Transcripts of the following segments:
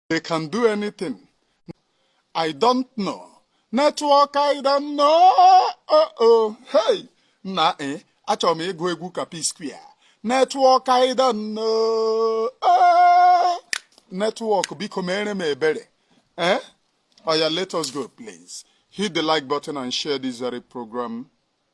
they can do anything i don't know network i don't know oh oh hey na e eh, achọrọ m ịgụ egwu ka P-Square network i don't know eh, network biko mere m ebere eh oya let us go please hit the like button and share this very program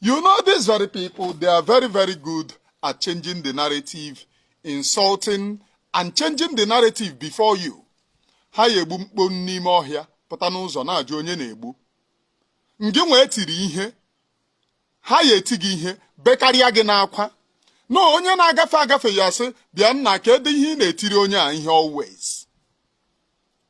You know these very people, they are very, very good at changing the narrative, insulting and changing the narrative before you. Ha ya egbu mkpo n'ime ọhịa pụta n'ụzọ na-ajụ onye na-egbu. Ngị nwa e tiri ihe, ha ya eti gị ihe bekarịa gị n'akwa. Na onye na-agafe agafe ya asị bịa nna kedụ ihe ị na-etiri onye a ihe always.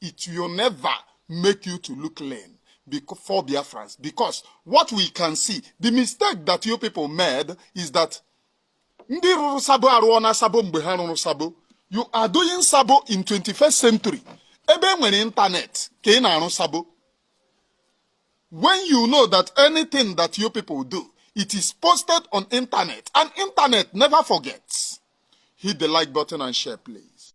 it will never make you to look clean for Biafrans because what we can see, the mistake that you people made is that ndị rụrụ sabo arụọna sabo mgbe ha rụrụ sabo you are doing sabo in 21st century ebe e nwere ịntanetị ka ị na-arụ sabo when you know that anything that you people do it is posted on internet and internet never forgets hit the like button and share please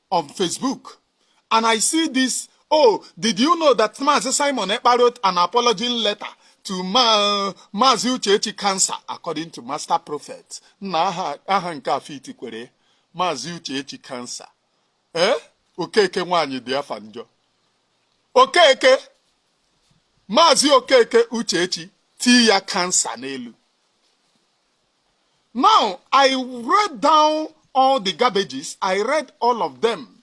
on Facebook and I see this, oh, did you know that Mazi Simon Ekpa wrote an apology letter to Ma Mazi Uchechi Cancer according to Master Prophet? Nna aha, aha nke a fitikwere Mazi Uchechi Cancer. Eh? Okeke nwaanyị dị afa njọ. Okeke Mazi Okeke Uchechi tii ya Cancer n'elu. Now, I read down all the garbages. I read all of them,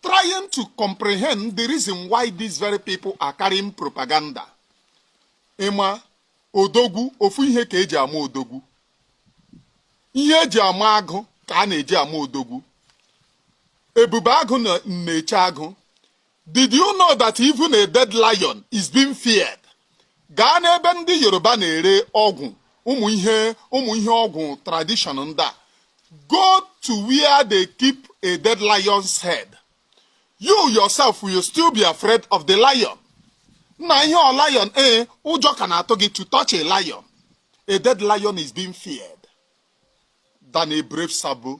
trying to comprehend the reason why these very people are carrying propaganda. Ị ma odogwu ofu ihe ka eji ama odogwu. Ihe eji ama agụ ka a na-eji ama odogwu. Ebube agụ na-eche agụ. Did you know that even a dead lion is being feared? Gaa n'ebe ndị Yoruba na-ere ọgwụ ụmụ ihe ụmụ ihe ọgwụ tradition ndị a. Go to where they keep a dead lion's head. You yourself will still be afraid of the lion. Nna ihe ọ lion ee eh, ụjọ ka na-atụ gị to touch a lion. A dead lion is being feared than a brave sabo.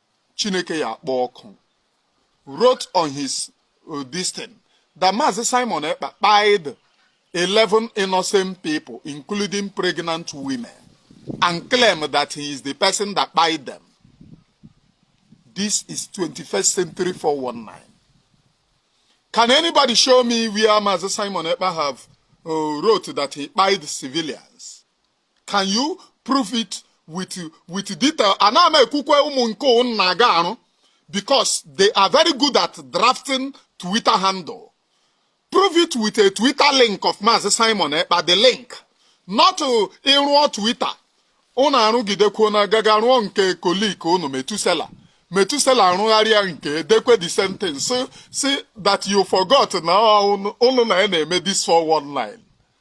chineke ya akpọ ọkụ wrote on his uh, this thing that Maazị Simon Ekpa kpaid 11 innocent people including pregnant women and claim that he is the person that kpaid them this is 21st century 419 can anybody show me where Maazị Simon Ekpa have uh, wrote that he kpaid civilians can you prove it with with detail ana m ekwukwe ụmụ nke ụnụ na-aga arụ because they are very good at drafting twitter handle prove it with a twitter link of Maazị Simon Ekpa the link not ịrụọ twitter ụnụ arụgidekwuo na gaga rụọ nke kolik ụnụ metusela metusela arụgharịa nke dekwe the sentence si si that you forgot na ụnụ na ya na-eme this 419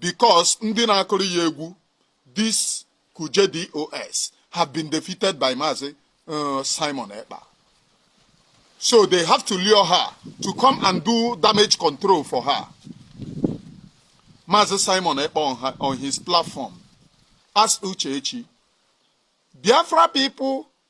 because ndị na-akụrụ ya egwu this Kuje DOS have been defeated by Mazi uh, Simon Ekpa. So they have to lure her to come and do damage control for her. Mazi Simon Ekpa on, her, on his platform asked Uchechi, Biafra people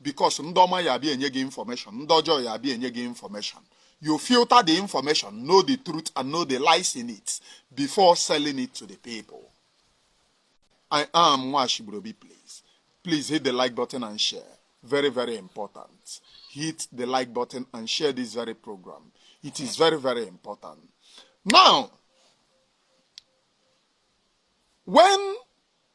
because ndị ọma ya abịa enye gị information ndị ọjọọ ya abịa enye gị information you filter the information know the truth and know the lies in it before selling it to the people i am nwashibrobi please please hit the like button and share very very important hit the like button and share this very program it is very very important now when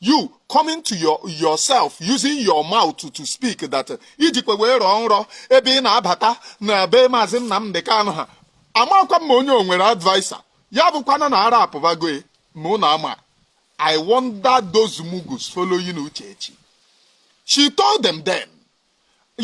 you coming to your yourself using your mouth to, to speak that i jikwa wee rọọ nrọ ebe ị na-abata na be maazị Nnamdị Kanụ ha amakwa m ma onye o nwere adviser ya abụkwana na ara apụbago ya ma ụnụ ama I wonder those mugus following Uchechi she told them then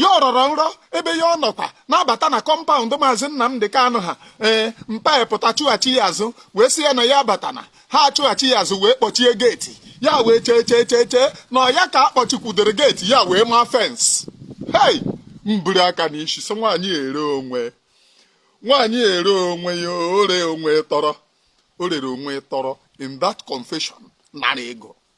ya ọ rọrọ nrọ ebe ya ọ nọkwa na-abata na compound maazị Nnamdị Kanụ ha ee mpa ya pụta chụghachi ya azụ wee sị ya na ya abatana ha achụghachi ya azụ wee kpọchie geeti ya wee chee chee chee chee na ọ ya ka a kpọchikwudere geeti ya wee maa fence hei m buru aka n'isi sị nwaanyị ere onwe nwaanyị ere onwe ya ore onwe tọrọ o rere onwe tọrọ in that confession nara ego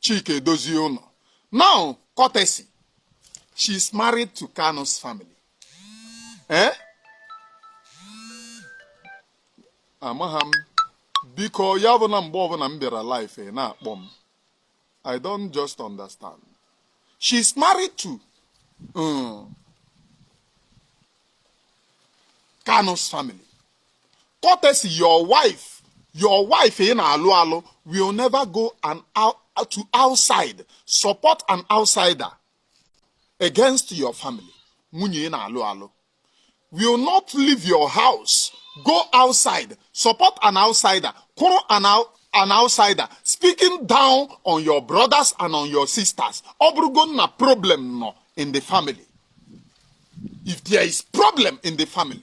Chika Edoziem now courtesy she is married to Kanu's family eh amaghị m biko ya bụ na mgbe ọbụla m bịara live eh, na-akpọ m I don't just understand she is married to um, Kanu's family courtesy your wife your wife ị na-alụ alụ will never go an out, to outside support an outsider against your family nwunye ị na-alụ alụ will not leave your house go outside support an outsider kwụrụ an out an outsider speaking down on your brothers and on your sisters ọ bụrụgo na problem nọ in the family if there is problem in the family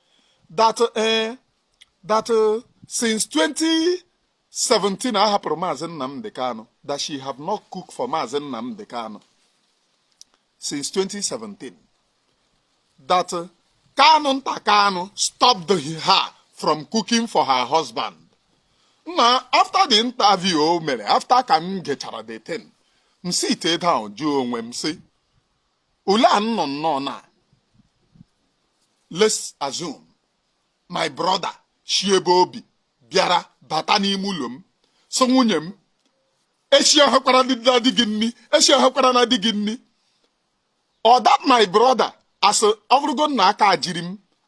that eh, that eh, since 2017 a hapụrụ maazị Nnamdi Kanu that she have not cooked for maazị Nnamdi Kanu since 2017 that eh, Kanunta Kanu stopped her from cooking for her husband nna after the interview o mere after ka m gechara the thing m sit down jụọ onwe m sị Olee a nọ nnọọ na let's assume my brother si ebe o bi bịara bata n'ime ụlọ m sị nwunye m esihekwarana di gị nri esihekwarana di gị nri or that my brother a sị ọ bụrụgo na aka jiri m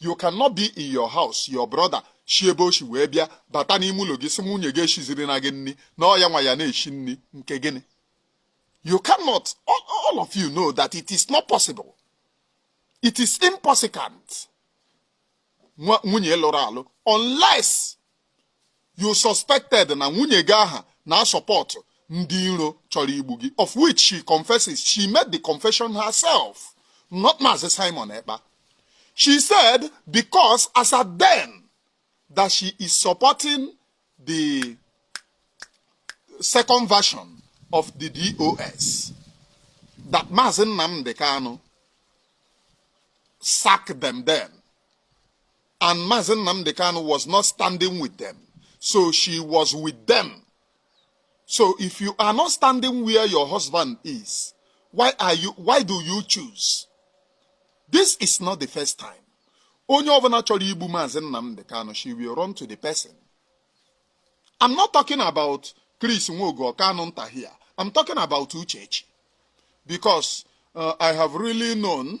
you cannot be in your house your brother si ebe o si wee bịa bata n'ime ụlọ gị sị nwunye gị eshizirina gị nri na ọ ya nwa ya na-eshi nri nke gịnị you cannot all, all of you know that it is not possible it is impossible nwunye lụrụ alụ unless you suspected na nwunye gị ahụ na-asọpọtụ ndị iro chọrọ igbu gị of which she confesses she made the confession herself not Maazị Simon Ekpa she said because as at then that she is supporting the second version of the DOS that Maazị Nnamdi Kanu sacked them then and Mazi Nnamdi Kanu was not standing with them so she was with them so if you are not standing where your husband is why are you why do you choose this is not the first time onye ọbụla chọrọ igbu maazị Nnamdi Kanu she will run to the person I'm not talking about Chris Nwogo Kanu nta here I'm talking about Uchechi because uh, I have really known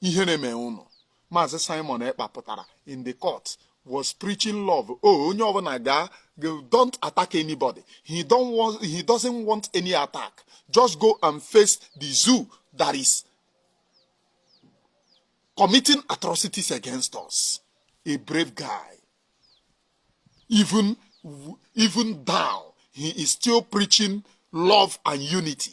ihere mee ụnụ maazị simon ekpa pụtara in the court was preaching love o oh, onye ọbụla gaa don't attack anybody he don't want he doesn't want any attack just go and face the zoo that is committing atrocities against us a brave guy even even down he is still preaching love and unity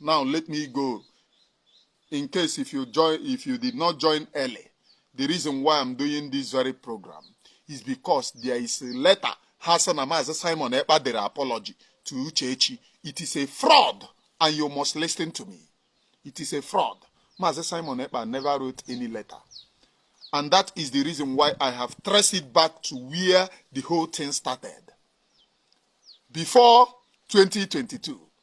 now let me go in case if you join if you did not join early the reason why i'm doing this very program is because there is a letter ha sị na maazị simon ekpa dere apology to uchechi it is a fraud and you must listen to me it is a fraud maazị simon ekpa never wrote any letter and that is the reason why i have traced it back to where the whole thing started before 2022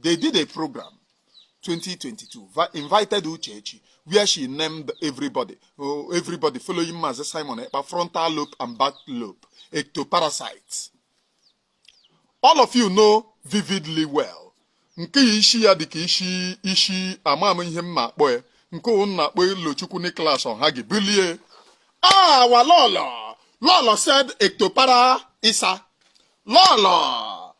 They did a program 2022 invited Uchechi where she named everybody oh, everybody following Mazi Simon Ekpa frontal lobe and back lobe ectoparasites all of you know vividly well nke isi ya dịka isi isi ama m ihe m ma-akpọ ya nke ụnụ na-akpọ Elochukwu Nicholas Ohagi bilie our lọlọ lọlọ said ectopara isa lọlọ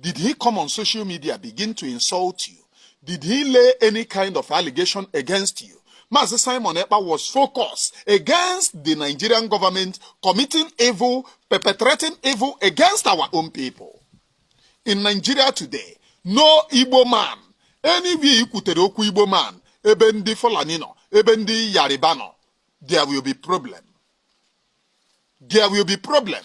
Did he come on social media begin to insult you? Did he lay any kind of allegation against you? Mazi Simon Ekpa was focused against the Nigerian government committing evil, perpetrating evil against our own people. In Nigeria today, no Igbo man, anywhere you could okwu Igbo man, ebe ndị Fulani nọ, ebe ndị Yoruba nọ, there will be problem. There will be problem.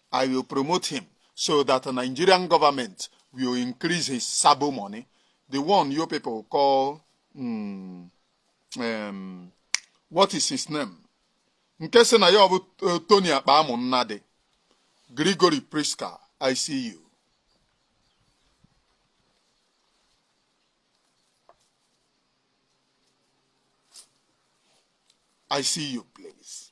I will promote him so that the Nigerian government will increase his sabo money. The one you people call, mm, um, what is his name? Nke si na ya bụ eh, Tony Akpamụ Nnadị, Gregory Priska, I see you. I see you, please.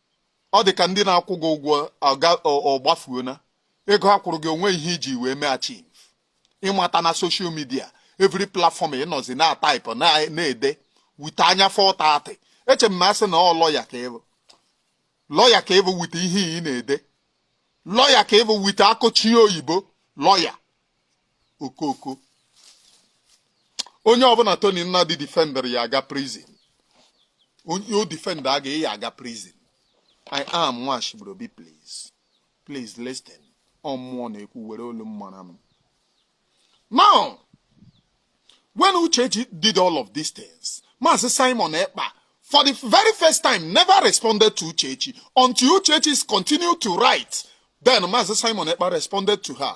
ọ dị ka ndị na-akwụ gị ụgwọ ọgbafuona ego ha kwụrụ gị o nwe ihe i ji wee mee achieve ị bata na social media every platform ị nọzi na type na-ede weta anya fọta atị eche m na a sị na ọ lọya ka ị bụ lọya ka ị bụ weta ihe ị na-ede lọya ka ị bụ weta akụchi oyibo lọya okooko onye ọbụla Tony Nnadi defender ya aga prison onye o defender aga ya aga prison I am Nwashibrobi please please listen ọ mmụọ na-ekwu were olu m mara m now when Uchechi did all of these things Maazị Simon Ekpa for the very first time never responded to Uchechi until Uchechi continued to write then Maazị Simon Ekpa responded to her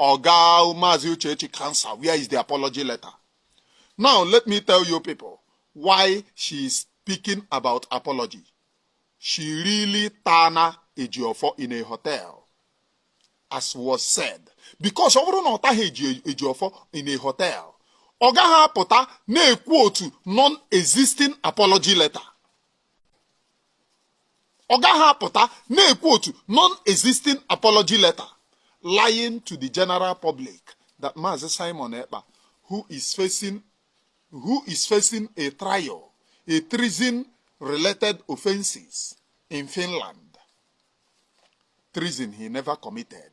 Oga Mazi Uchechi cancer, where is the apology letter? Now, let me tell you people why she is speaking about apology. She really tana Ejiofor in a hotel, as was said. Because ọ bụrụ na ọ taghị Ejiofor in a hotel, ọ gaghị apụta na-ekwu otu non-existing apology letter. ọ gaghị apụta na-ekwu otu non-existing apology letter lying to the general public that Maazị Simon Ekpa who is facing who is facing a trial a treason related offences in Finland treason he never committed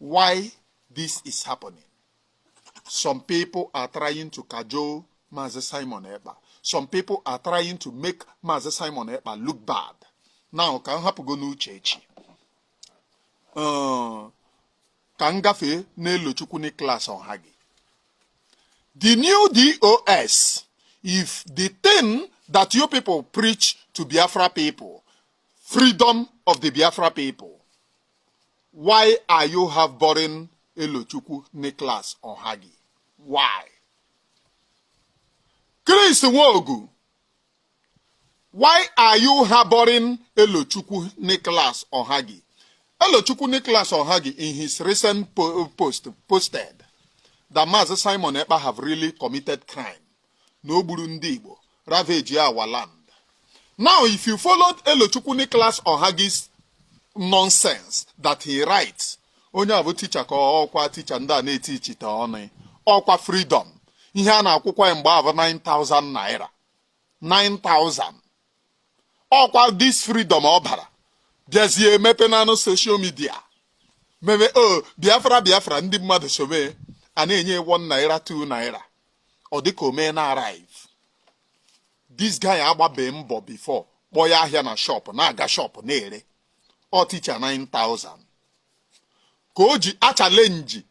why this is happening some people are trying to cajole Mazi Simon Ekpa some people are trying to make Mazi Simon Ekpa look bad now ka m hapụgo n'uche echi uh, ka m gafee n'elochukwu Nicholas Ohagi the new DOS if the thing that you people preach to Biafra people freedom of the Biafra people why are you have boring Elochukwu Nicholas Ohagi why Chris Nwogu why are you harboring Elochukwu Nicholas Ohagi Elochukwu Nicholas Ohagi in his recent post posted that Mazi Simon Ekpa have really committed crime na o gburu ndị Igbo ravage our land now if you followed Elochukwu Nicholas Ohagi's nonsense that he writes onye a bụ ticha ka ọkwa ticha ndị a na-eti ichite ọnụ ọkwa freedom ihe a na-akwụkwa ya mgbe ahụ 9000 naira 9000 ọkwa this freedom ọ bara bịazie emepe nanụ social media mebe o oh, biafra biafra ndị mmadụ sobe a na-enye one naira two naira ọ dịka o meena arrive this guy agbabe mbọ before kpọọ ya ahịa na shop na-aga shop na-ere ọ ticha 9000 ka o ji achallenge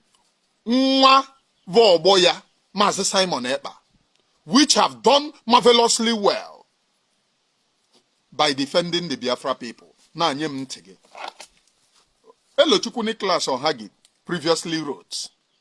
nwa bụ ọgbọ ya maazị Simon Ekpa which have done marvelously well by defending the Biafra people na-anye m ntị gị Elochukwu Nicholas Ohagi previously wrote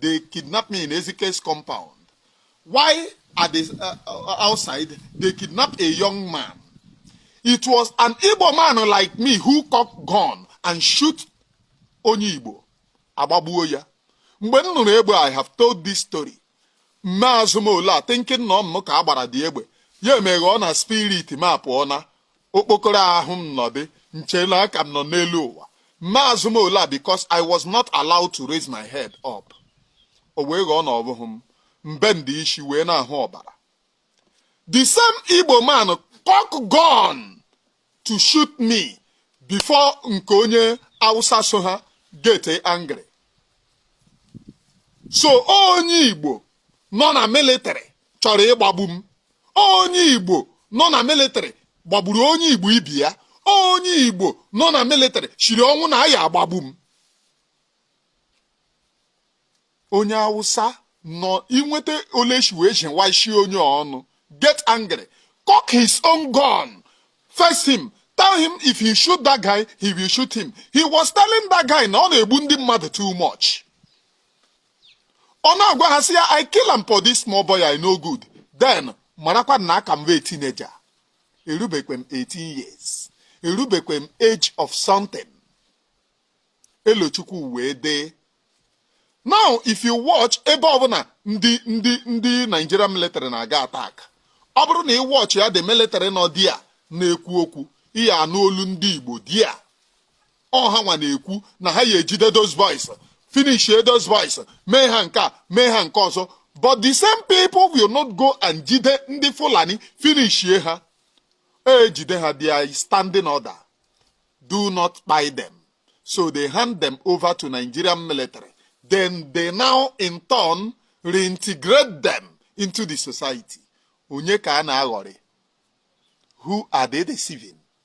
They kidnapped me in Ezike's compound. While at the uh, uh, outside they kidnapped a young man? It was an Igbo man like me who cocked gun and shoot onye Igbo. Agbagbuo ya. Mgbe m nụrụ egbe I have told this story. M mee azụ m ole a thinking na ọ mụ ka a gbara dị egbe. Ya emeghe ọ na spirit m apụọ na okpokoro ahụ m nọdị nche na a ka m nọ n'elu ụwa mee azụ m ole a because I was not allowed to raise my head up o wee ghọọ na ọ bụghị m m bendie isi wee na-ahụ ọbara the same Igbo man cock gun to shoot me before nke onye Hausa so ha get angry so onye Igbo nọ na military chọrọ ịgbagbu m onye igbo nọ na military gbagburu onye igbo ibe ya onye igbo nọ na military siri ọnwụ na ya agbagbu m onye awụsa nọ inweta oleshi wee ji nwaisi onye ọnụ get angry cock his own gun face him tell him if he shoot that guy he will shoot him he was telling that guy na ọ na-egbu ndị mmadụ too much ọ na-agwa ha sị ya I kill am for this small boy e no good then marakwa na aka m wụ teenager erubekwe m 18 years erubekwe m age of something elochukwu wee dee now if you watch ebe ọbụla ndị ndị ndị Nigeria military na-aga attack ọ bụrụ na ị watch ya the military nọ there na-ekwu okwu ị ya-anụ olu ndị Igbo there ọ ha nwa na-ekwu na ha ya-ejide those boys finish those boys mee ha nke a mee ha nke ọzọ but the same people will not go and jide ndị Fulani finish ha ejide ha their standing order do not kpai them so they hand them over to Nigerian military then they now in turn reintegrate them into the society onye ka a na-aghọrị who are they deceiving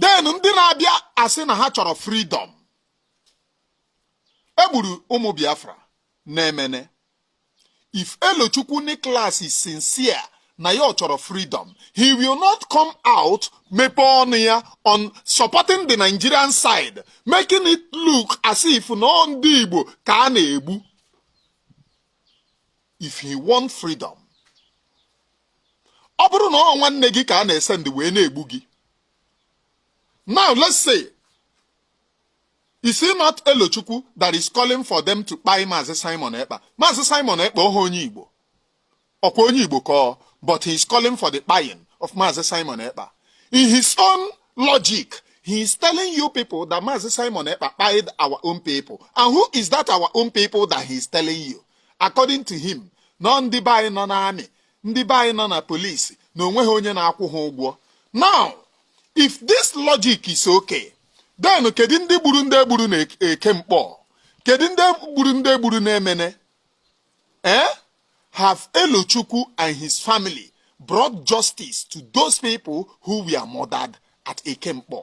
then ndị na-abịa asị na ha chọrọ freedom egburu ụmụ biafra na Emene if elochukwu Nicholas is sincere na ya ọ chọrọ freedom he will not come out mepe ọnụ ya on supporting the nigerian side making it look as if na ọ ndị igbo ka a na-egbu if he want freedom ọ bụrụ na ọ nwanne gị ka a na-esend wee na-egbu gị now let's say is it not Elochukwu that is calling for them to kpai Maazị Simon Ekpa Maazị Simon Ekpa ọha onye Igbo ọkwa onye Igbo ka ọ but he is calling for the kpaying of Maazị Simon Ekpa in his own logic He is telling you people that Mazi Simon Ekpa kpai our own people. And who is that our own people that he is telling you? according to him na ọ ndị be anyị nọ n'army ndị be anyị nọ na police na onweghị onye na-akwụ ha ụgwọ now if this logic is okay then kedu ndị gburu ndị egburu na Eke Nkpọ kedu ndị gburu ndị egburu na Emene eh have Elochukwu and his family brought justice to those people who were murdered at Eke Nkpọ.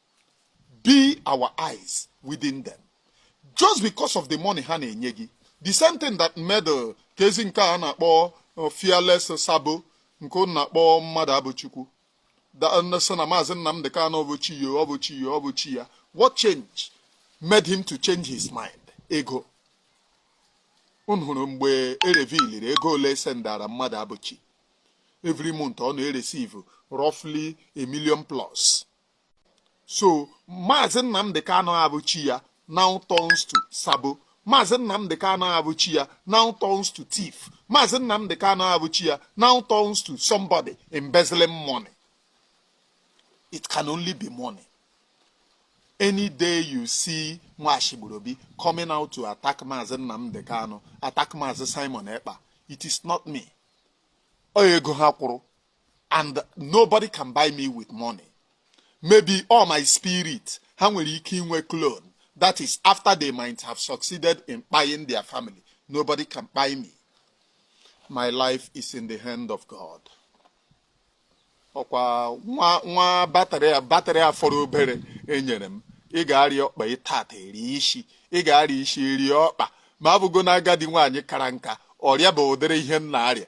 be our eyes within them just because of the money ha na-enye gị the same thing that made oke ezi nke a na-akpọ uh, fearless sabo nke unu na-akpọ Mmadụabụchukwu uh, sị na Maazị Nnamdi Kanu ọ bụ chi ya ọ bụ chi ya ọ bụ chi ya what change made him to change his mind ego unu hụrụ mgbe e reviliri ego ole e sendara Mmadụabụchi every month ọ na-eresive roughly a million plus so Maazị Nnamdi Kanu bụ chi ya now turns to sabo Maazị Nnamdi Kanu bụ chi ya now turns to thief Maazị Nnamdi Kanu bụ chi ya now turns to somebody embezzling money it can only be money any day you see Nwashigburobi coming out to attack Maazị Nnamdi Kanu attack Maazị Simon Ekpa it is not me ọ ego ha kwụrụ and nobody can buy me with money maybe all my spirit ha nwere ike inwe clone that is after they might have succeeded in kpaing their family nobody can kpai me my life is in the hand of God ọ kwa nwa nwa batrị batrị a fọrọ obere e nyere m ị ga-arịa ọkpa tata rịa isi ị ga-arịa isi rịa ọkpa ma abụgo na agadi nwaanyị kara nka ọrịa bụ ụdịrị ihe m na-arịa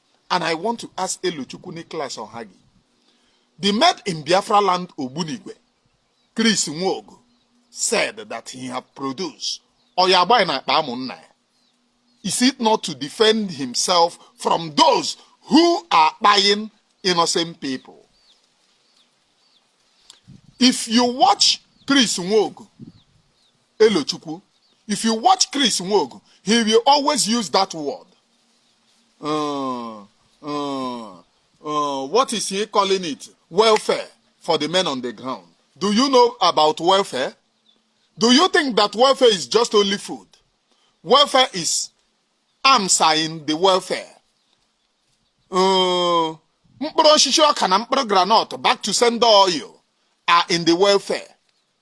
and I want to ask Elochukwu Nicholas Ohagi, the man in Biafra land Ogbunigwe, Chris Nwogo, said that he have produced Oyagba na Akpa Is it not to defend himself from those who are buying innocent people? If you watch Chris Nwogo, Elochukwu. If you watch Chris Nwogu, he will always use that word. Uh, uh, uh, what is he calling it? Welfare for the men on the ground. Do you know about welfare? Do you think that welfare is just only food? Welfare is arms are in the welfare. Uh, mkpụrụ osisi ọka na mkpụrụ granọt back to sender oil are in the welfare.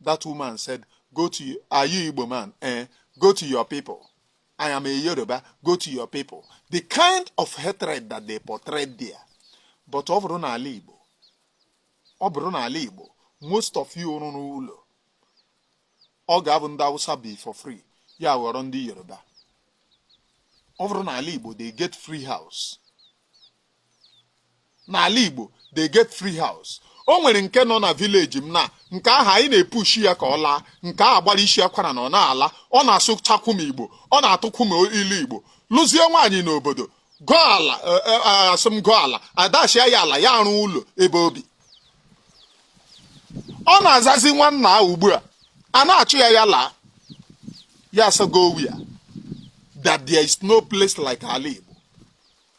That woman said, go to, are you Igbo man? Eh, go to your people. I am a Yoruba, go to your people. The kind of hatred that they portrayed there. But ọ bụrụ n'ala Igbo, ọ bụrụ n'ala Igbo, most of you rụrụ ụlọ, ọ ga-abụ ndị Awụsa bi for free, ya aghọrọ ndị Yoruba. Ọ bụrụ n'ala Igbo, they get free house. n'ala Igbo they get free house o nwere nke nọ na vileji m na nke ahụ anyị na-epushi ya ka ọ laa nke a gbara isi akwara na ọ na-ala ọ na-asụchakwu m Igbo ọ na-atụkwu m ilu Igbo lụzie nwaanyị n'obodo goo ala e, e, e, asị m goo ala a dashia ya ala ya arụọ ụlọ ebe obi ọ na-azazi nwanna ahụ ugbu a a na-achụ ya ya laa ya asago ya that there is no place like ala Igbo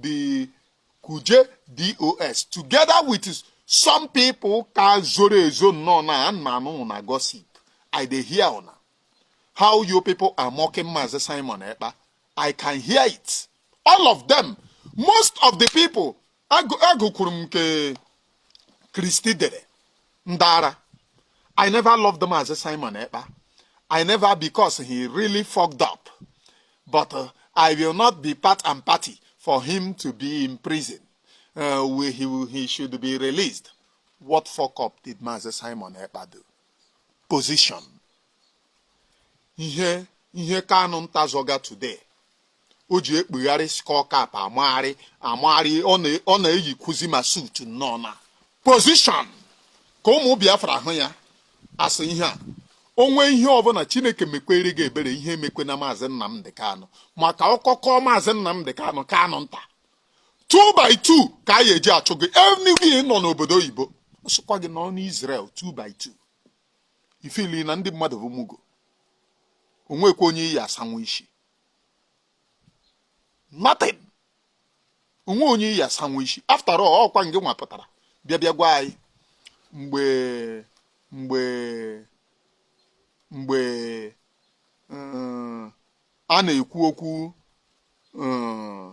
the Kuje DOS together with some people ka zoro ezo nọọ na a na-anụ una gossip i dey hear una how you people are mocking Mazi Simon Ekpa i can hear it all of them most of the people agụkwuru m nke Kristi dere ndị ara I never loved them as Simon Ekpa I never because he really fucked up but uh, I will not be part and party for him to be in prison uh, we, he, he should be released what fuck up did Mazi Simon Ekpa do position ihe ihe kanụ nta zọga today o ji ekpugharị skull cap amagharị amagharị ọ na-eyikwuzi ma suit nọ na position ka ụmụ biafra hụ ya asị ihe a o nwe ihe ọbụla chineke mekwere gị ebere ihe emekwe na maazị nnamdị kanụ maka ọkọkọ maazị nnamdị kanụ kanụ nta 2 by 2 ka a ya eji achụ gị enigwe nọ n'obodo oyibo ọ sịkwa gị nọ n'Israel 2 by 2 ị feel na ndị mmadụ bụ mugu o nwekwa onye ị ya-asanwu isi nothing o nwe onye ị ya-asanwu isi after all ọ kwa ngị nwa pụtara bịa bịa gwa anyị mgbe mgbe mgbe a na-ekwu okwu eh,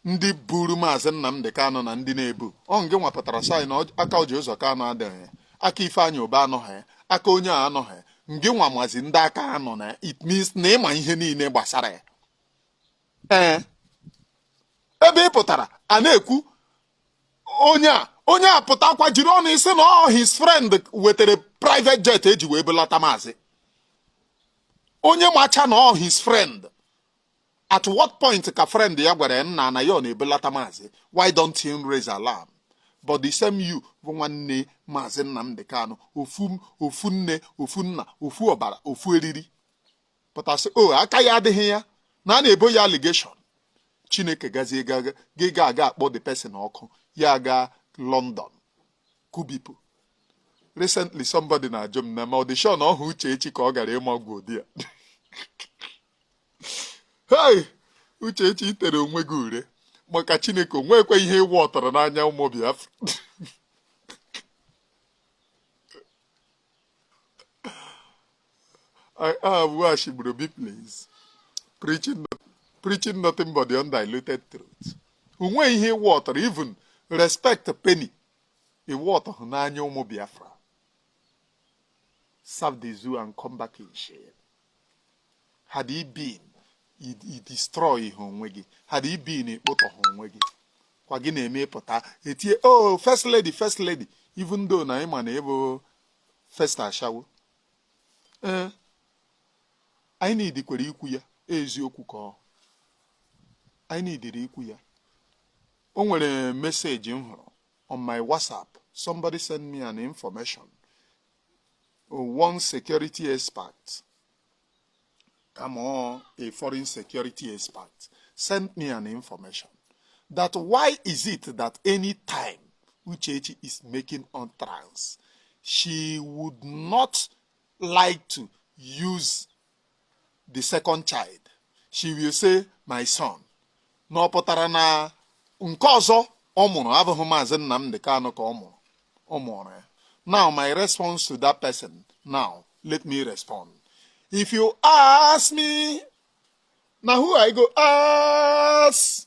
ndị buru maazị Nnamdị Kanụ na ndị na-ebu ọ ngị nwa pụtara sị na aka Orji Uzor Kalu adịghị ya aka Ifeanyi Ubah anọghị ya aka onye a anọghị ngị nwa mazi ndị aka ha nọ na it means na ị ma ihe niile gbasara ya ee eh, ebe ị pụtara a na-ekwu onye a onye a pụtakwa jiri ọnụ gị sị na ọ his friend wetara private jet e ji wee bulata maazị onye macha na ọ his friend at what point ka friend ya gwara ya nna na ya ọ na-ebulata maazị why don't he raise alarm but the same you bụ nwanne maazị Nnamdi Kanu ofu ofu nne ofu nna ofu ọbara ofu eriri pụta sị o oh, aka ya adịghị ya na a na-ebo ya allegation chineke gazie gị ga-aga akpọ the person ọkụ ya gaa London kubipu recently somebody na-ajụ m na ma ọ dị sure na ọhụ Uchechi ka ọ gara ịma ọgwụ di ya hei Uchechi i tere onwe gị ure maka Chineke o nwekwa ihe ị worthọrọ n'anya ụmụ Biafra I have Washigburu bi please preaching preaching nothing but the undiluted truth. O nwe ihe ị worthọrọ even respect penny ị worthọhụ n'anya ụmụ biafra serve the zoo and come back in shame had he been ị destroyhụ onwe gị had he been ị kpụtọhụ onwe gị kwa gị na-eme ị pụta etie o oh, first lady first lady even though na ị ma na ị bụ first ashawo ee eh, anyị na-edikwere ikwu ya eziokwu ka ọ anyị na-ediri ikwu ya o nwere meseji m hụrụ on my whatsapp somebody send me an information one security expert kama ọ a foreign security expert sent me an information that why is it that anytime Uchechi is making on trans she would not like to use the second child she will say my son na ọ pụtara na nke ọzọ ọ mụrụ abụghị maazị Nnamdi Kanu ka ọ mụrụ ọ mụrụ ya now my response to that person now let me respond if you ask me na who I go ask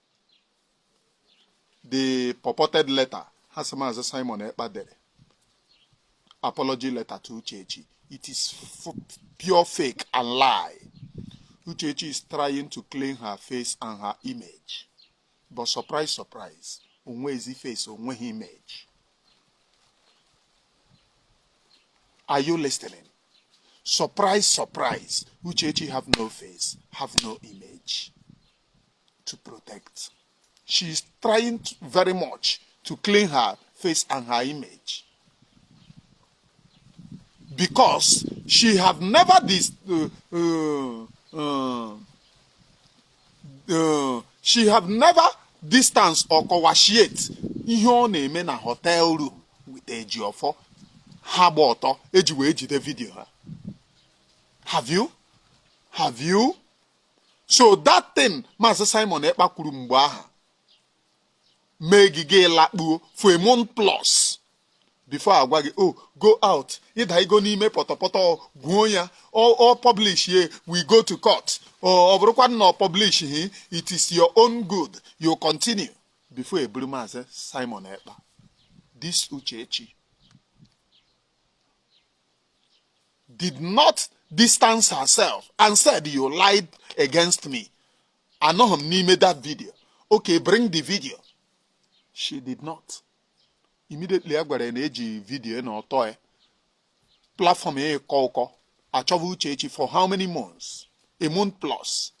the purported letter ha sị maazị Simon Ekpa dere apology letter to Uchechi it is pure fake and lie Uchechi is trying to clean her face and her image but surprise surprise onwe ezi face onweghị image are you listening surprise surprise Uchechi have no face have no image to protect. She is trying to, very much to clean her face and her image. Because she have never this, uh, uh, uh, uh, she have never distance or coagulate ihe ọ na-eme na hotel room with Ejiofor ha gba ọtọ eji wee jide vidio ha have you have you so that thing maazị Simon Ekpa kwuru mgbe ahụ mee gị gị lakpuo for a month plus before a gwa gị oh go out either you go n'ime pọtọpọtọ gwuo ya ọ publishie we go to court ọ bụrụkwa na ọ publish hi it is your own good you continue before e buru maazị Simon Ekpa this Uchechi did not distance herself and said you lied against me anọghị m n'ime that video okay bring the video she did not immediately a gwara ya na e ji video na ọtọ ya platform ya ịkọ ụkọ a chọba Uchechi for how many months a month plus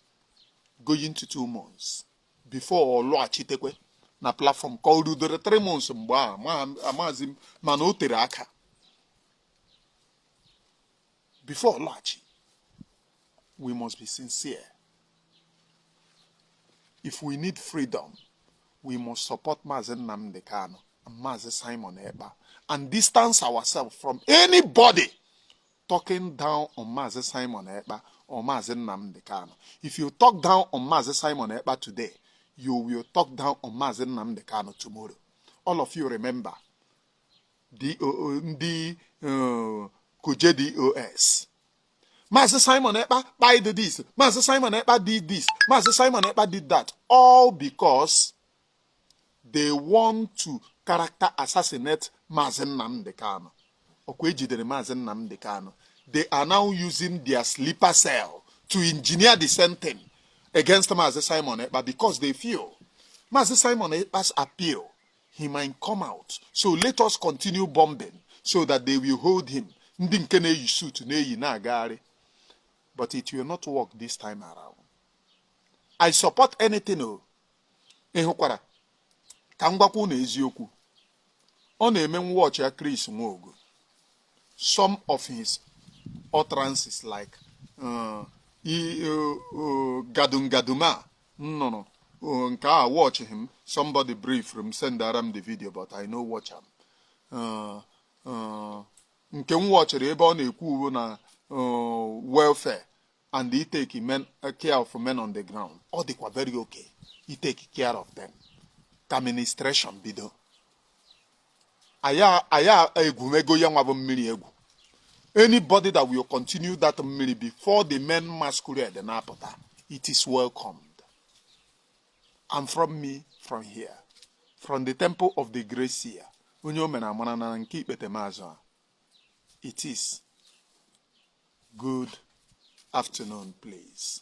going to two months before ọ lọghachitekwe na platform ka o rudere three months mgbe a ma- amazi m mana o tere aka before laghachi we must be sincere if we need freedom we must support Mazi Nnamdi Kanu and Mazi Simon Ekpa and distance ourselves from anybody talking down on Mazi Simon Ekpa or Mazi Nnamdi Kanu. If you talk down on Mazi Simon Ekpa today, you will talk down on Mazi Nnamdi Kanu tomorrow. All of you remember ndị uh, kuje dos maazị simon ekpa kpai did this maazị simon ekpa did this maazị simon ekpa did that all because they want to character assassinate maazị nnamdị kano ọkwa ejidere maazị nnamdị kano they are now using their sleeper cell to engineer the same thing against Mazi Simon Ekpa because they feel Mazi Simon Ekpa's appeal he might come out so let us continue bombing so that they will hold him ndị nke na-eyi suit na-eyi na-agagharị but it will not work this time around i support anything o oh. ịhụkwara ka m gwakwa unu eziokwu ọ na-eme nwa ọchịa Chris Nwaọgụ some of his utterances like uh, uh, uh, gadungaduma m nụrụ oh, nke a watchighị m somebody briefụrụ m sendara m the video but I no watch am uh, uh, nke m watchiri ebe ọ na-ekwu bụ na uh, welfare and ịtake men, uh, care of men on the ground ọ dịkwa very okay ịtake care of them ka ministration bido aya aya egwumego ya nwa bụ mmiri egwu anybody that will continue that mmiri before the men masquerade na-apụta it is welcomed and from me from here from the temple of the great seer onye o mere amara na nke ikpetemazụ a it is good afternoon please